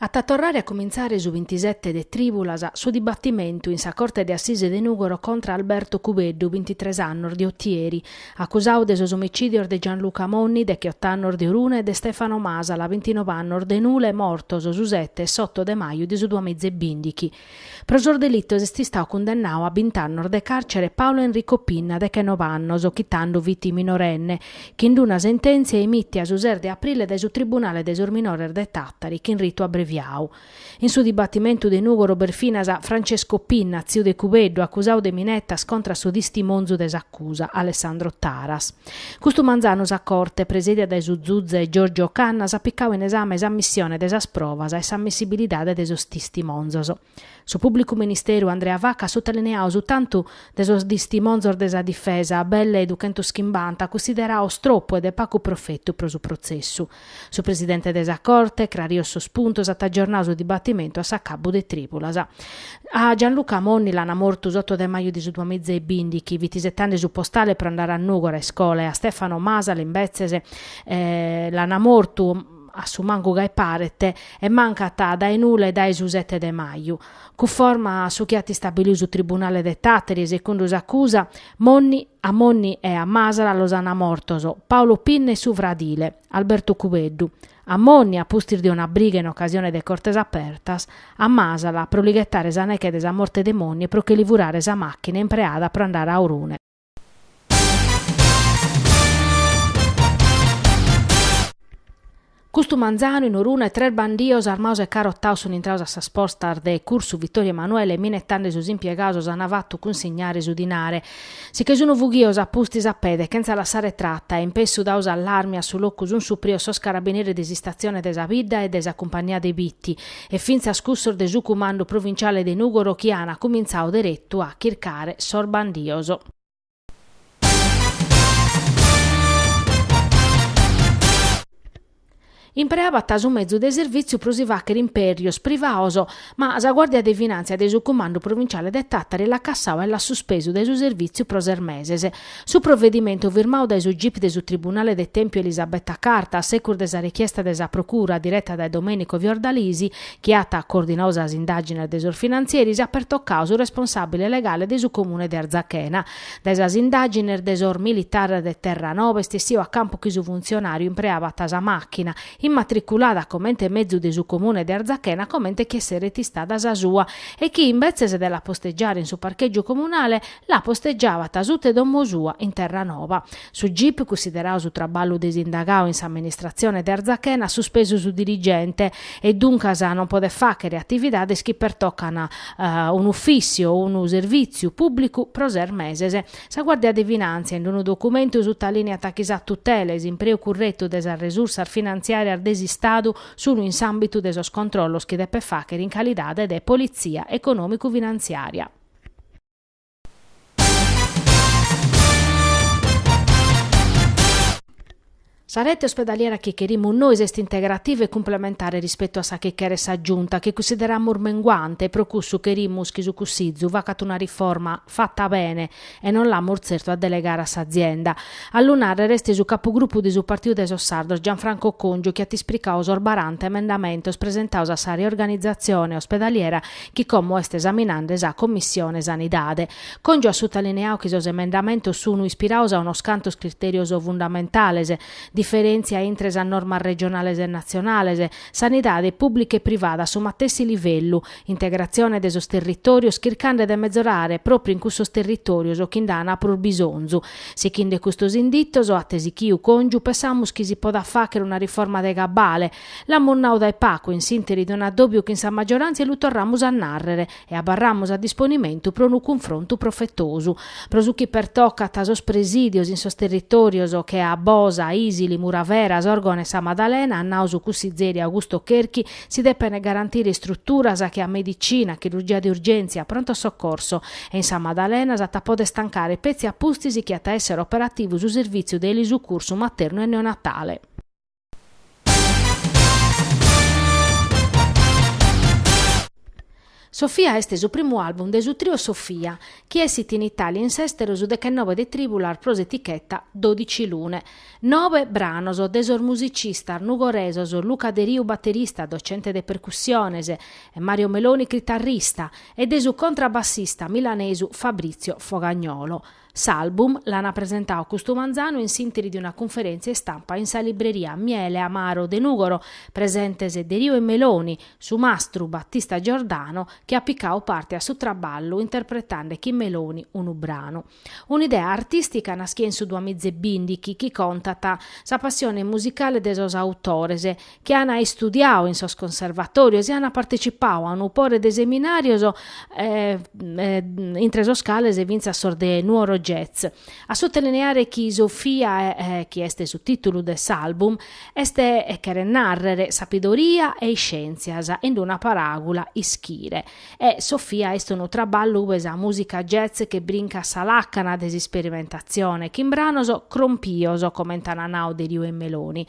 At a torrare a cumintzare su bintisete de trìbulas su dibatimentu in sa Corte de Assise de Nùgoro contra Alberto Cubeddu, bintitres annos, de Otieri, acusau de sos omicìdios de Gianluca Monni, decheott'annos, de Orune e de Stefano Masala, bintinove annos, de Nule, mortos su sete e s'oto de maju de su duamiza e bìndichi. Pro sos delitos est istau cundennau a bint'annos de càrcere Paolo Enrico Pinna dechenobe annos, chi tando fit minorenne, chin-d una sentèntzia emìtia su ses de aprile dae su Tribunale de sos Minores de Tàtari chin ritu abreviau. In su dibatimentu de Nùgoro b'est finas Francesco Pinna, tziu de Cubeddu, acusau de minetas contra a su tistimonzu de s'acusa, Alessandro Taras. Custu manzanu sa Corte, presèdia dae su zuze Giorgio Cannas, at picau in esame sa ammissione de sas provas e s'ammissibilidade de sos tistimonzos. Su Pùblicu Ministeru Andrea Vacca at sotolineau su tantu de sos tistimonzos de sa difesa, belle duchentos chimbanta, cunsideraos tropu e de pagu profetu pro su protzessu. Su presidente de sa Corte, crarios sos puntos, at agiornau su dibatimentu a s'acabbu de tribulas. A Gianluca Monni l'ana mortu s'oto de maju de su duamiza e bìndichi, fit isetande su postale pro andare a Nùgoro a iscola e a Stefano Masala imbetzes l'ana mortu a su mancu gai paret e mancat dae Nule dae su sete de maju. Cunforma a su chi at istabiliu su tribunale de Tàteri e secundu s'acusa A Monni e a Masala los ana mortos Paolo Pinna e su fradile, Alberto Cubeddu. A Monni, a pustis de una briga in ocasione de Cortes Apertas, a Masala pro li ghetare sa neche de sa morte de Monni e pro che li furare sa machina impreada pro andare a Orune. Custu manzanu in Orune tres bandios armaos e carotaos sun intraos a sas postas de Cursu Vittorio Emanuele e minetande sos impiegaos s'an fatu cunsignare su dinare. Si che sun fughios a pustis a pede chentza lassare trata e in pessu dau s'allarmi a su locu sun suprios sos carabineris de s'istazione de sa bidda e de sa cumpagnia de Bitti e fintzas cussos de su cumandu provinciale de Nugoro chi an cumintzau deretu a chircare sos bandios. Impreabat su mezu de servìtziu pro si fàghere impèrios privaos, ma sa guàrdia de finàntzia de su Cumandu Provinciale de Tàtari l'at cassau e l'at suspesu dae su servìtziu pro ses meses. Su provedimentu firmau dae su gip de su Tribunale de Tèmpiu Elisabetta Carta, a secus de sa rechiesta de sa Procura, direta dae Domenico Fiordalisi, chi at coordinau sas indàgines de sos finantzieris, at pertocau su responsàbile legale de su Comune de Arzachena. Dae sas indàgines de sos militares de Terranova est essiu a campu chi su funtzionàriu impreabat sa màchina, immatriculada comente mezu de su Comune de Arzachena comente chi esseret istada sa sua, e chi, imbetzes de la postegiare in su parchègiu comunale, la postegiabat suta 'e domo sua in Terranova. Su gip, cussideradu su traballu de s'indagadu in s'amministratzione de Arzachena, at suspesu su dirigente e duncas non podet fàghere atividades chi pertocan un'ufìssiu o unu servìtziu pùblicu pro ses meses. Sa Guàrdia de Finàntzia, in unu documentu, sutalìniat chi sa tutela e s'impreu curretu de sas resursas finantziàrias de s'Istadu sunt in s'àmbitu de sos controllos chi depet fàghere in calidade de politzia econòmicu-finantziària. Sa rete ospedaliera chi cherimus nois est integrativa e cumplementare rispetu a sa chi cheret sa Giunta, chi cussideramus menguante e pro cussu cherimus chi su Cussizu facat una riforma fata bene e non l'amus tzertu a delegare a s'azienda. A lu nàrrere est su capugrupu de su Partidu de sos Sardos Gianfranco Congiu chi at ispricadu sos baranta emendamentos presentados a sa riorganizatzione ospedaliera chi como est esaminande sa Commissione Sanidade. Congiu at sutalineadu chi sos emendamentos sunu ispirados a unos cantos critèrios fundamentales, diferèntzia intre sas normas regionales e natzionales, sanidade pùblica e privada a su matessi livellu, integratzione de sos territòrios chircande de mezorare pròpriu in cussos territòrios chi nd'an prus bisonzu. Sighinde custos inditos, at sighidu Congiu, pensamus chi si podat fàghere una riforma de cabale, L'amus nau dae pagu in s'interi de un'addòbiu chi in sa maggioràntzia lu torramus a nàrrere e abarramus a disponimentu pro unu cunfrontu profetosu. Pro su chi pertocat sos presìdios in sos territòrios che a Bosa, Isili, Muravera, Sòrgono e Sa Madalena, at nau su cussizeri Augusto Cherchi, si depent garantire istruturas che a medicina, chirurgia de urgèntzia, pronto soccorso e in Sa Madalena si podet tancare petzi a pustis chi at a èssere operativu su servìtziu de elisucursu maternu e neonatale. Sofia est su primu album de su trio Sofia, chi essit in Italia e in s'esteru su dechennobe de tribulas pro s'etichetta Dodicilune. Nobe branos de sos musicistas nugoresos Luca Deriu baterista, docente de percussiones, e Mario Meloni critarrista, e de su contrabassista milanesu Fabrizio Fogagnolo. S'album l'ana presentau custu manzanu in s'interi de una cunferèntzia istampa in sa libreria Miele Amaro de Nùgoro, presentes Deriu e Meloni, su mastru Battista Giordano chi at picau parte a su traballu interpretande chin Meloni unu branu. Un'idea artìstica naschia in su duamiza e bìndighi chi contat sa passione musicale de sos autores, chi ana istudiau in sos conservatorios e ana partecipau a unu pore de seminarios intre sos cales fintzas sos de Nuoro Jazz. A sotelineare chi Sofia chi est su titulu de s'album est cheret narrer sapidoria e iscientzia in una paragula ischire e Sofia est unu traballu ue sa musica jazz che brincat sa lacana de s'isperimentazione chin branos crompios comente ana nau Deriu e Meloni